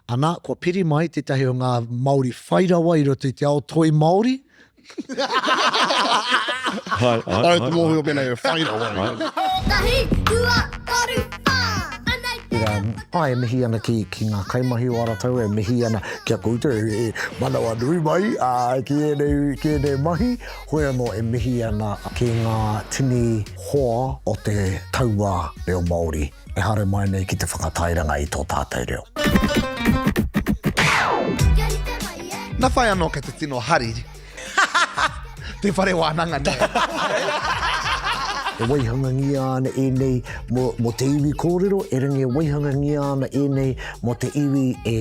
Ana, kua piri mai tetahi o nga Maori whai rawa i roto i te ao toi Maori. Hai, hai, hai. Ai te mohio pena e whai rawa. Tahi, rua, toru, wha. Ana i te rau. Āe e mihi ana ki ngā kaimahi o Aratau e mihi ana ki a koutou e manawa nui mai ki ēnei mahi. Hoi anō e mihi ana ki ngā tini hoa o te tauā reo Māori e haere mai nei ki te whakatairanga i tō tātou reo. Na whai anō kei te tino hari. Te whare wānanga nei. E waihangangia ana ēnei mō te iwi kōrero, e rangi e waihangangia ana ēnei mō te iwi e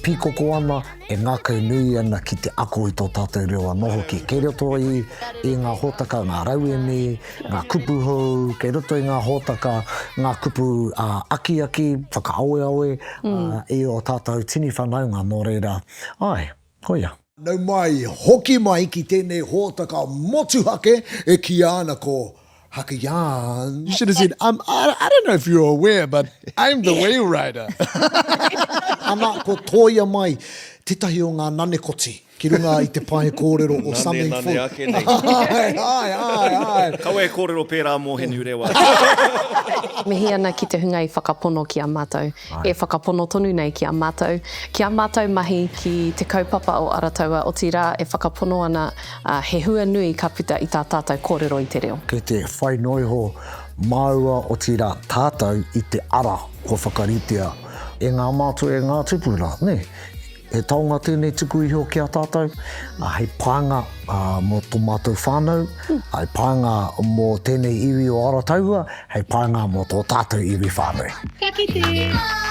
pīkoko ana, e ngākau nui ana ki te ako i tō tātou reo anō hoki. Kei roto i, i ngā hōtaka, ngā rauemi, ngā kupu hou, kei roto i ngā hōtaka, ngā kupu ā, akiaki, whakaaweawe, mm. ā, i o tātou tini whanaunga, nō reira, ai, koia. Nau mai, hoki mai ki tēnei hōtaka motuhake e kīia ana ko Haka Yarns. You should have said, I'm, I don't know if you're aware, but I'm the whale rider. Ana, ko Tōia mai, tētahi o ngā nanekoti ki runga i te pae kōrero o Something Full. Nane, nane ake nei. Āe, āe, āe, āe. Kaua e kōrero pērā mō Henurewa. Mihi ana ki te hunga i whakapono ki a mātou. e whakapono tonu nei ki a mātou, ki ā mātou mahi ki te kaupapa o Aratoua, otirā e whakapono ana he hua nui ka puta i tā tātou kōrero i te reo. Kei te whai noa iho māua, otirā tātou, i te ara kua whakaritea e ngā mātua, e ngā tupuna, nē? He taonga tēnei tuku iho ki a tātou, hei pānga mō tō mātou whānau, hei pānga mō tēnei iwi o Arotaua, hei pānga mō tō tātou iwi whānui. Ka kite!